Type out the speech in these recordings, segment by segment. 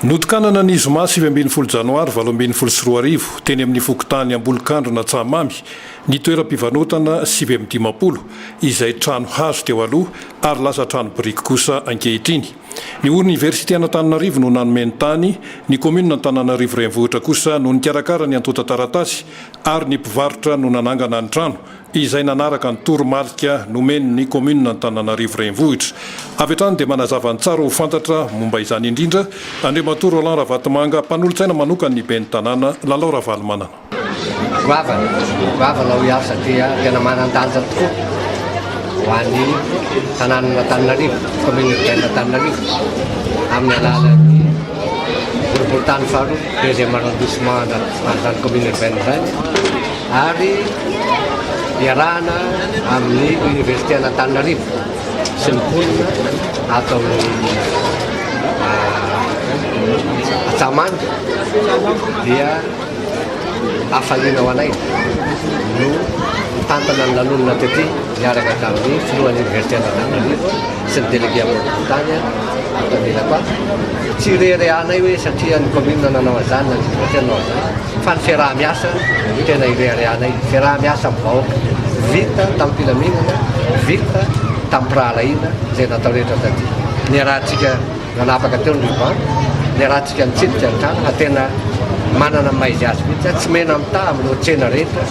Notokanana ny zoma sivy ambin'ny folo janoary valo ambin'ny folo sy roa arivo, teny amin'ny fokontany Ambolokandrina Antsahamamy, ny toeram-pivarotana sivy amby dimampolo, izay trano hazo teo aloha ary lasa trano biriky kosa ankehitriny. Ny Oniversite an'Antananarivo no nanome ny tany, ny Kaominina Antananarivo Renivohitra kosa no nikarakara ny antontan-taratasy ary ny mpivarotra no nanangana ny trano, izay nanaraka ny toromarika nomen'ny kaominina Antananarivo Renivohitra. Avy hatrany dia manazava ny tsara ho fantatra momba izany indrindra, Andriamatoa Roland Ravatomanga, mpanolotsaina manokan'ny ben'ny tanàna, Lalao Ravalomanana. Goavana, goavana hoy aho satria tena manan-danja tokoa ho an'ny tanànan'Antananarivo, commune urbaine Antananarivo, amin'ny alalan'ny boriborintany faharoa, deuxième arrondissement, an'izany commune urbaine izany. ary iarahana amin'ny Oniversité an'Antananarivo sy ny mponina ato amin'ny Antsamanga dia hafaliana ho anay no mitantana ny lanonana tety miaraka tamin'ny filohan'ny Oniversité an'Antananarivo sy ny délégué amboadobontany ato anilako ato, tsy ireharehanay hoe satria ny commune no nanao an'izany na ny districtr no nanao an'izany fa ny fiaraha-miasa no tena ireharehanay, ny fiaraha-miasa amin'ny vahoaka vita tamim-pilaminana, vita tamim-pirahalahiana izay natao rehetra taty. Niarahantsika. Nanapaka teo ny Riva, niarahantsika nitsidika ny trano fa tena manana ny maha izy azy mihitsy aho, tsy mena mitaha amin'ireo tsena rehetra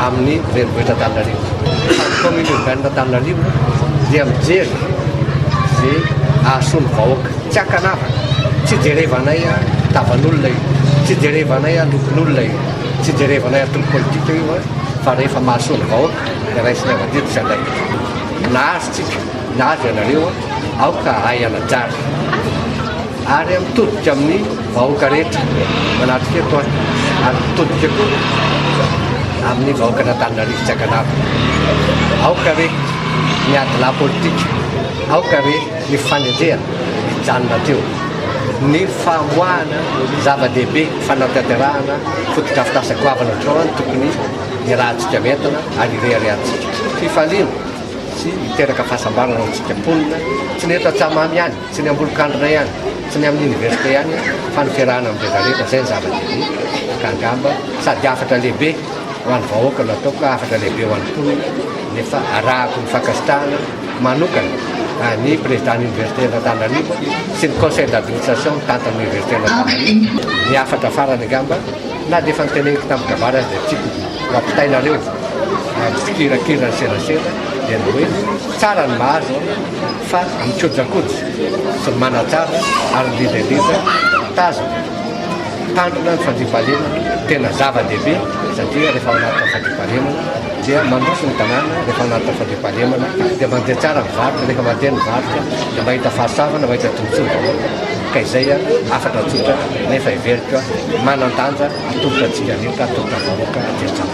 amin'ny renivohitra Antananarivo. Fa ny Commune Urbaine Antananarivo dia mijery izay hahasoa ny vahoaka. Tsy ankanavaka, tsy ijerevanay tavan'olona io, tsy ijerevanay lokon'olona io, tsy ijerevanay antoko politika io fa rehefa mahasoa ny vahoaka dia raisina eo avadidy sy andraikitra. Nahazo tsika, nahazo ianareo. aoka ahay hanajary ary mitodika amin'ny vahoaka rehetra manatrika eto aho ary mitodika koa amin'ny vahoaka an'Antananarivo tsy ankanavy aoka re ny adilahy politika aoka re ny fanenjehana hijanona teo ny famoahana zava-dehibe fanatanterahana fotodrafitrasa goavana ohatr'izao any tokony ny rahantsika mientana ary ireharehantsika fifaliana sy hiteraka fahasambarana ho antsika mponina, tsy ny eto Antsahamamy ihany, tsy ny ambolokandrina ihany, tsy ny amin'ny université ihany fa ny fiarahana amin'ny rehetra rehetra, izay ny zava-dehibe, ka angamba sady hafatra lehibe ho an'ny vahoaka no ataoko, hafatra lehibe ho an'ny mponina, nefa arahako ny fankasitrahana manokana an'ny président universitén'Antananarivo sy ny conseil d'administration mitantana ny universitén'Antananarivo, ny hafatra farany angamba. Na dia efa noteneniko tamin-kabary aza dia tiako ho ampitainareo ny fikirakirana serasera dia ny hoe tsara ny mahazo fa ny kojakoja sy ny manatsara ary ny ledaleda tazana tandrina ny fandriampahalemana tena zava-dehibe satria rehefa ao anatin'ny fandriampahalemana dia mandroso ny tanàna rehefa ao anatin'ny fandriampahalemana dia mandeha tsara ny varotra rehefa mandeha ny varotra dia mahita fahasavana mahita tombontsoa ny vahoaka ka izay hafatra tsotra nefa heveriko manan-danja atolotra antsika rehetra, atolotra vahoaka, atolotra vahoaka.